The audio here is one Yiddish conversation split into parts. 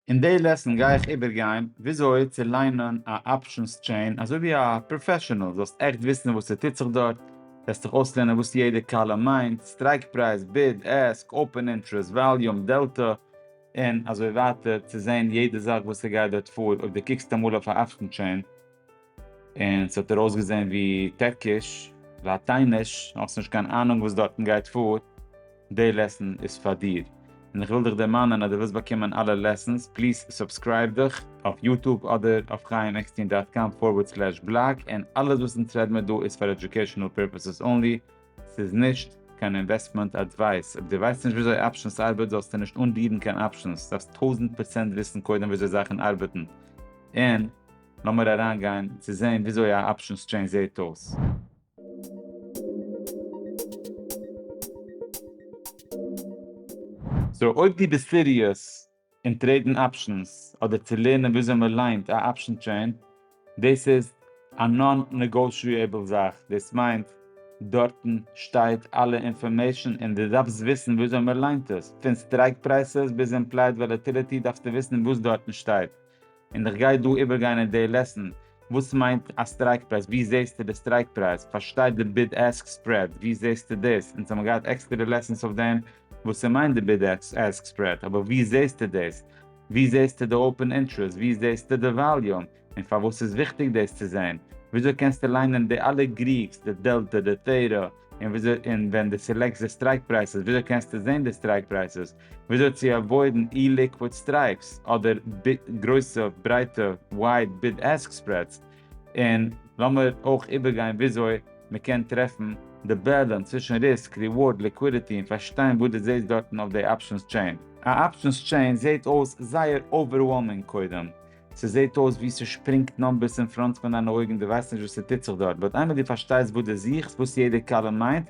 אין די לעסן גיי איך איבערגיין וויאזוי צו ליינען א אפשענס טשעין אזוי ווי א פראפעשענעל, זאלסט עכט וויסן וואס ס'טוט זיך דארט, וועסט דיך אויסלערנען וואס יעדע קאלום מיינט, סטרייק פרייז, ביד, עסק, אפען אינטרעסט, וואליום, דעלטא, און אזוי ווייטער, צו זען יעדע זאך וואס ס'גייט דארט פאר, אויב דו קוקסט אמאל אויף א אפשען טשעין. און ס'האט דיר אויסגעזען ווי טערקיש, לאטייניש, האסט נישט קיין אהנונג וואס דארטן גייט פאר, די לעסן איז פאר דיר. און איך וויל דיך דערמאנען אז דו ווילסט באקומען אלע לעסנס, פליז סובסקרייב דיך אויף יוטוב אדער אויף חיים עקסטין דאט קאם פארווערד סלעש בלאג, און אלעס וואס אונז רעד מיר דא איז פאר עדיוקעישאנעל פירפעסעס אנלי, ס'איז נישט קיין אינוועסטמענט אדווייס. אויב דו ווייסט נישט וויאזוי אפשענס ארבעט זאלסטו נישט אנרירן קיין אפשענס, דארפסט טויזנט פראצענט וויסן קודם וויאזוי זאכן ארבעטן, און לאמיר אריין גיין צו זעהן וויאזוי א אפשען סטשעין זעהט אויס. סאו אויב דו ביסט סיריעס אין טרעידן אפשענס אדער צו לערנען וויאזוי מען ליינט א אפשען טשעין, דאס איז א נאן נעגאושיעבל זאך, דאס מיינט דארטן שטייט אלע אינפארמעישן און דו דארפסט וויסן וויאזוי מען ליינט עס, פון סטרייק פרייסעס ביז אימפלייד וואלעטיליטי דארפסטו וויסן וואס דארטן שטייט. און איך גיי דא איבערגיין אין די לעסן וואס מיינט א סטרייק פרייז, ווי זעהסטו די סטרייק פרייז, פארשטיי די ביד עסק ספרעד, ווי זעהסטו דאס, אונז האבן געהאט עקסטערע לעסענס אויף דעם וואס ס'מיינט די ביד עסק ספרעד, אבער ווי זעהסטו דאס, ווי זעהסטו די אופען אינטרעסט, ווי זעהסטו די וואליום, און פארוואס איז וויכטיג דאס צו זעהן, וויאזוי קענסטו ליינען די אלע גריגס, די דעלטא, די טערא, און ווען די סעלעקסט די סטרייק פרייסעס וויאזוי קענסטו זעהן די סטרייק פרייסעס, וויאזוי צו עוואוידן אי ליקוויד סטרייפס אדער גרויסע ברייטע ווייד ביד עסק ספרעדס, און לאמיר אויך איבערגיין וויאזוי מען קען טרעפן די בעלענס צווישן ריסק, ריווארד, ליקווידיטי און פארשטיין וואס דו זעסט דארטן אויף די אפשענס טשעין. א אפשענס טשעין זעט אויס זייער אווערוועלמינג קודם, ס'זעט אויס ווי ס'שפרינגט נאמבערס אין פראנט פון דיינע אויגן, דו ווייסט נישט וואס ס'טוט זיך דארט, באט איינמאל דו פארשטייסט וואס דו זוכסט, וואס יעדע קאלום מיינט,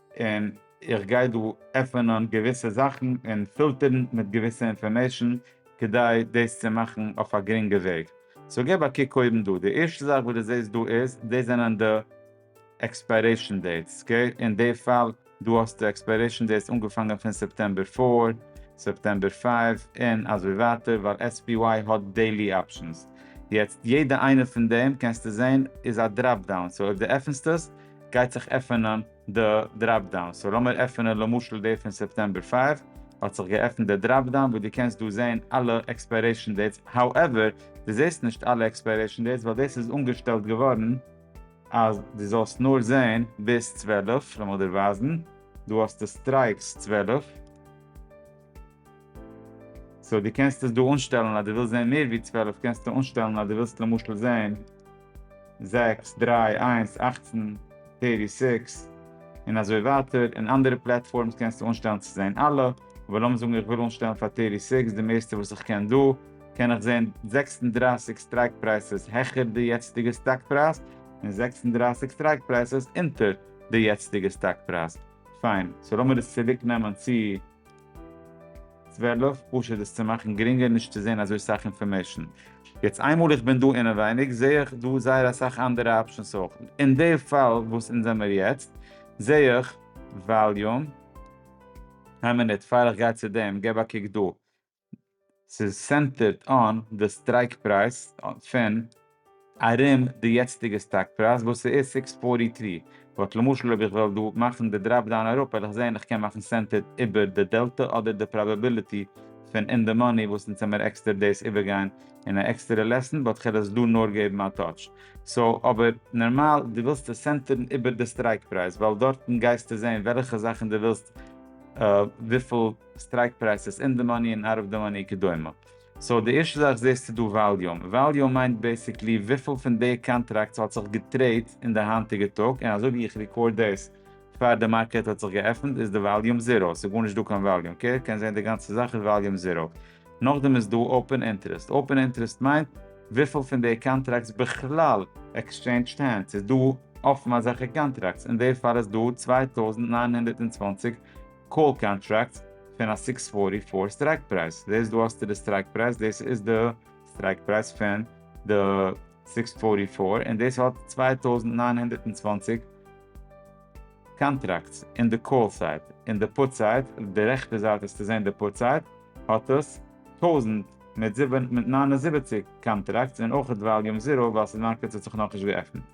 און איך גיי דא עפענען געוויסע זאכן און פילטערן מיט געוויסע אינפארמעישן כדי דאס צו מאכן אויף א גרינגע וועג. סאו געב א קוק אויבן דא, די ערשטע זאך וואס דו זעסט דא איז דאס זענען די עקספיירעישן דעיטס, אקעי, אין די פאל דא האסטו עקספיירעישן דעיטס אנגעפאנגען פון סעפטעמבער פֿיר, סעפטעמבער פֿינף, און אזוי ווייטער, ווייל SPY האט דעילי אפשענס. יעצט יעדע איינע פון דעם קענסטו זעהן איז א דראפ דאון, סאו אויב דו עפנסט עס גייט זיך עפענען די דראפ דאון, סאו לאמיר עפענען למשל די פון סעפטעמבער פייוו, האט זיך געעפנט די דראפ דאון וואו דו קענסט דא זעהן אלע עקספיירעישן דעיטס, האועווער, דו זעהסט נישט אלע עקספיירעישן דעיטס ווייל דאס איז אנגעשטעלט געווארן אז דו זאלסט נאר זעהן ביז צוועלף, לאמיר דיר ווייזן, דא האסטו סטרייקס צוועלף, סאו דו קענסט עס דא אנשטעלן אז דו ווילסט זען מער ווי צוועלף קענסטו אנשטעלן אז דו ווילסט למשל זען זעקס, דריי, איינס, אכצן, טערטי סיקס, און אזוי ווייטער, און אנדערע פלעטפארמס קענסטו אנשטעלן צו זען אלע, אבער לאמיר זאגן איך וויל אנשטעלן פאר טערטי סיקס די מערסטע וואס איך קען דא, קען איך זען זעקס און דרײַסיק סטרייק פרייסעס העכער די יעצטיגע סטאק פרייז, און זעקס און דרײַסיק סטרייק פרייסעס אונטער די יעצטיגע סטאק פרייז. פיין, סאו לאמיר עס צוריק נעמען צו צוועלף, פשוט דאס צו מאכן גרינגער נישט צו זען אזוי סאך אינפארמעישן. יעצט איינמאל איך בין דא אינעווייניג זעה איך דא זייער אסאך אנדערע אפשענס אויך. אין די פאל וואס אונז זעמיר יעצט זעה איך וואליום, איין מינוט פאר איך גיי צו דעם געב א קוק דא, ס'איז סענטערד אן די סטרייק פרייז פון ארום די יעצטיגע סטאק פרייז וואס ס'איז סיקס פארטי טרי, באט למשל אויב איך וועל דא מאכן די דראפ דאון אראפ וועל איך זען איך קען מאכן סענטערד איבער די דעלטע אדער די פראבעביליטי פון אין די מאני וואס אונז האמיר עקסטער דאס איבערגיין אין א עקסטערע לעסן באט כ'על עס דא נאר געבן א טאטש סאו אבער נארמאל דו ווילסט עס סענטערן איבער די סטרייק פרייז ווייל דארטן גייסטו זען וועלכע זאכן דו ווילסט וויפיל סטרייק פרייסעס, אין די מאני און אוט אוו די מאני כדומה. סאו די ערשטע זאך זעהסטו דא וואליום, וואליום מיינט בעסיקלי וויפיל פון די קאנטראקטס האט זיך געטרעיד אין די היינטיגע טאג, און אזוי ווי איך רעקארד דאס פאר די מארקעט האט זיך געעפנט איז די וואליום זיראו, ס'איז גארנישט דא קיין וואליום, קעיר קען זעהן די גאנצע זאך איז וואליום זיראו. נאכדעם איז דא אופען אינטערעסט, אופען אינטערעסט מיינט וויפיל פון די קאנטראקטס בכלל עקסטשעינדזשד הענדס, ס'איז דא אפן אזעלכע קאנטראקטס, אין די פאל איז דא צוויי טויזנט נײַן הונדערט צוואַנציק, קאל קאנטראקט פון א סיקס פארטי פאר סטרייק פרייז, דאס דא האסטו די סטרייק פרייז, דאס איז די סטרייק פרייז פון די סיקס פארטי פאר, און דאס האט צוויי טויזנט נײַן הונדערט און צוואַנציק קאנטראקטס אין די קאל סייד, אין די פוט סייד, אויף די רעכטע זייט וועסטו זען די פוט סייד, האט עס טויזנט מיט נײַן און זיבעציק קאנטראקטס, און אויכעט וואליום זיראו ווייל ס'מארקעט האט זיך נאכנישט געעפנט.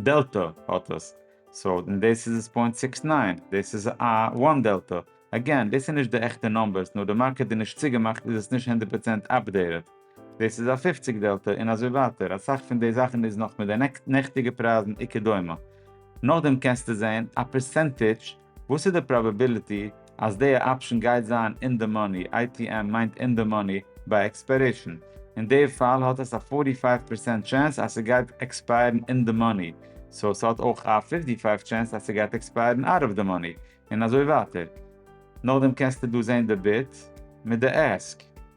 דעלטא האט עס, סאו און דאס איז עס פוינט סיקס ניין, דאס איז א וואן דעלטא, עגעין דאס איז נישט די עכטע נומבערס נאר די מארקעט איז נישט צוגעמאכט איז עס נישט הונדערט פראצענט אפדעיטעד, דאס איז א פופציג דעלטא און אזוי ווייטער, אסאך פון די זאכן איז נאך מיט די נעכטיגע פרייזן וכדומה, נאכדעם קענסטו זעהן א פערסענטידזש. וואס איז די פראבעביליטי אז די אפשן גייט זיין אין די מאני, ATM מיינט אין די מאני, ביי עקספיירעישן? אין די פאל האט עס א פארטי פייוו פערסענט טשענס אז ס'גייט עקספייערן אין די מאני, סאו ס'האט אויך א פיפטי פייוו טשענס אז ס'גייט עקספייערן אוט אוו די מאני, און אזוי ווייטער. נאכדעם קענסטו דא זעהן די ביד מיט די עסק.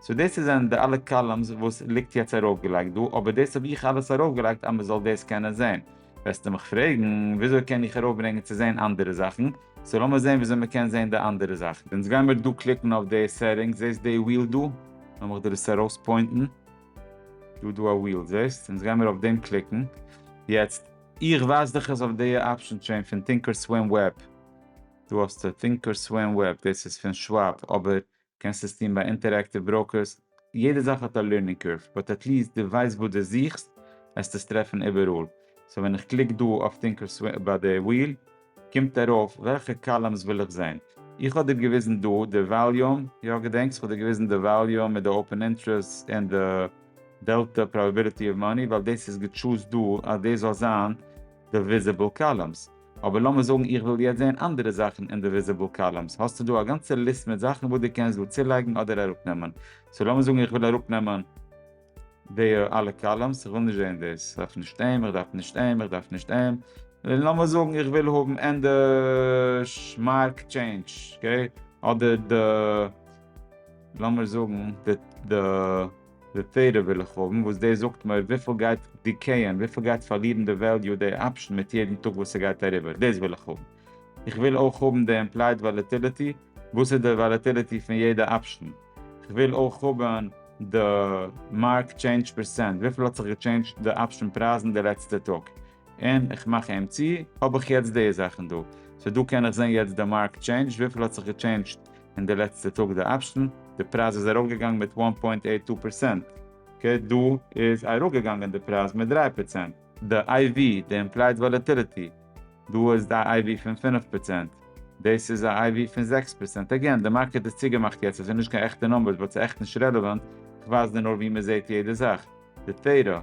סאו דאס איז זענען די אלע קאלומס וואס ליגט יעצט ארויפגעלייגט דא, אבער דאס האב איך אלעס ארויפגעלייגט אז מען זאל דאס קענען זעהן. וועסטו מיך פרעגן וויאזוי קען איך ארויפברענגען צו זעהן אנדערע זאכן, סאו לאמיר זעהן וויאזוי מען קען זעהן די אנדערע זאכן. אונז גיימיר דא קליקן אויף די סעטינגס, זעהסט די וויל דא? לאמיך דיר עס ארויספוינטן, דא דא א וויל זעהסט? אונז גיימיר אויף דעם קליקן, יעצט איך ווייז דיך עס אויף די אפשען טשעין פון טינקער סווים וועב, דא האסטו טינקער סווים וועב, דאס איז פון שוואב, אבער קענסט עס טון ביי אינטערעקטיוו בראוקערס, יעדע זאך האט א לערנינג קורב, באט עטליעסט דו ווייסט וואס דו זוכסט, וועסטו עס טרעפן איבעראל, סאו ווען איך קליק דא אויף טינקערסוויל ביי די וויל, קומט ארויף וועלכע קאלומס וויל איך זען, איך האב דיר געוויזן דא די וואליום, יא געדענקסט איך האב דיר געוויזן די וואליום מיט די אופען אינטרעסטס און די דעלטא פראבעביליטי אוו מאני, ווייל דאס איז געטשוזט דא אז דאס זאל זיין די וויזיבל קאלומס. אבער לאמיר זאגן איך וויל יעצט זעהן אנדערע זאכן אין די וויזיבעל קאלומס, האסטו דא א גאנצע ליסט מיט זאכן וואס דו קענסט דא צולייגן אדער אראפנעמען, סאו לאמיר זאגן איך וויל אראפנעמען די אלע קאלומס, איך וויל נישט זעהן דאס, איך דארף נישט אים, איך דארף נישט אים, איך דארף נישט אים, און לאמיר זאגן איך וויל האבן ענדערש מארק טשעינדזש, אקעי, אדער די, לאמיר זאגן די. די תורה וויל איך האבן וואס דאס זאגט מיר וויפיל גייט דיקעיען, וויפיל גייט פארלירן די וועליו די אפשן מיט יעדן טאג וואס ס'גייט אריבער, דאס וויל איך האבן. איך וויל אויך האבן די אימפלייד וואלעטיליטי, וואס איז די וואלעטיליטי פון יעדע אפשן. כ'וויל אויך האבן די מארק טשעינדזש פערסענט, וויפיל האט זיך געטשעינדזשט די אפשן פרייזן די לעצטע טאג. און איך מאך אים צו, האב איך יעצט די זאכן דא, סאו דא קען איך זען יעצט די מארק טשעינדזש, וויפיל האט זיך געטשעינדזשט אין די לעצטע טאג די אפשן, די פרייז איז ארויפגעגאנגען מיט וואן פוינט עיט טו פערצענט, אקעי דא איז אראפגעגאנגען די פרייז מיט דרײַ פערצענט, די איי ווי, די אימפלייד וואלעטיליטי, דא איז א איי ווי פון פֿינף פערצענט, דאס איז א איי ווי פון זעקס פערצענט, עגעין די מארקעט איז צוגעמאכט יעצט, עס איז נישט קיין עכטע נומבערס באט ס'איז עכט נישט רעלעווענט, איך ווייז דיר נאר ווי מ'זעהט יעדע זאך, די טעיטא,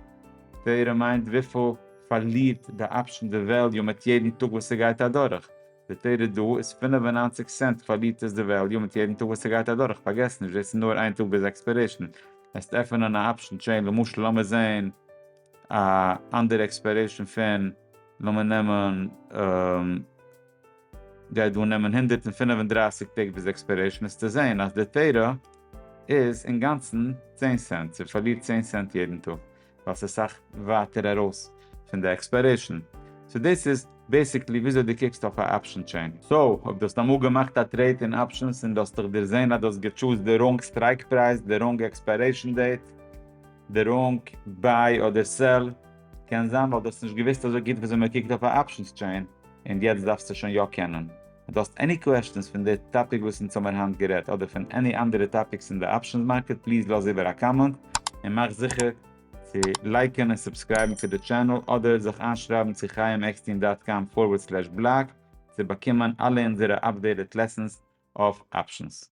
תורה מיינט וויפיל פארלירט די אפשען די וועליו מיט יעדן טאג וואס ס'גייט אדורך, די תורה דא איז פֿינף און נײַנציק סענט פארלירט עס די וועליו מיט יעדן טאג וואס ס'גייט אדורך, פארגעס נישט דאס איז נאר איין טאג ביז עקספערעישן, וועסט עפענען א אפשען טשעין למשל לאמיר זעהן א אנדערע עקספערעישן פון לאמיר נעמען. גייט דא נעמען הונדערט און פֿינף און דרײַסיק טעג ביז עקספיירעישן עס צו זעהן אז די תורה איז אינגאנצן צען סענט און פארלירט צען סענט יעדן טאג ווייל ס'איז סאך ווייטער ארויס פון די עקספיירעישן סאו דאס איז בעסיקלי וויאזוי דו קוקסט אויף א אפשן טשעין. סאו אויב דו האסט אמאל געמאכט א טרעיד אין אפשנס און דו האסט דיך דערזעהן אז דו האסט געטשוזט די ראנג סטרייק פרייז, די ראנג עקספיירעישן דעיט, די ראנג ביי אדער סעל, קען זיין ווייל דו האסט נישט געוויסט אזוי גוט וויאזוי מען קוקט אויף א אפשנס טשעין. און יעצט דארפסטו שוין יא קענען. דו האסט עני קוועשטענס פון די טאפיק וואס אונז האמיר היינט גערעדט אדער פון עני אנדערע טאפיקס אין די אפשענס מארקעט פליז לאז איבער א קאמענט און מאך זיכער צו לייקען און סובסקרייבן צו די טשענעל אדער זיך איינשרייבן צו חיים עקסטין דאט קאם פארווערד סלעש בלאג צו באקומען אלע אונזערע אפדעיטעד לעסענס אויף אפשענס.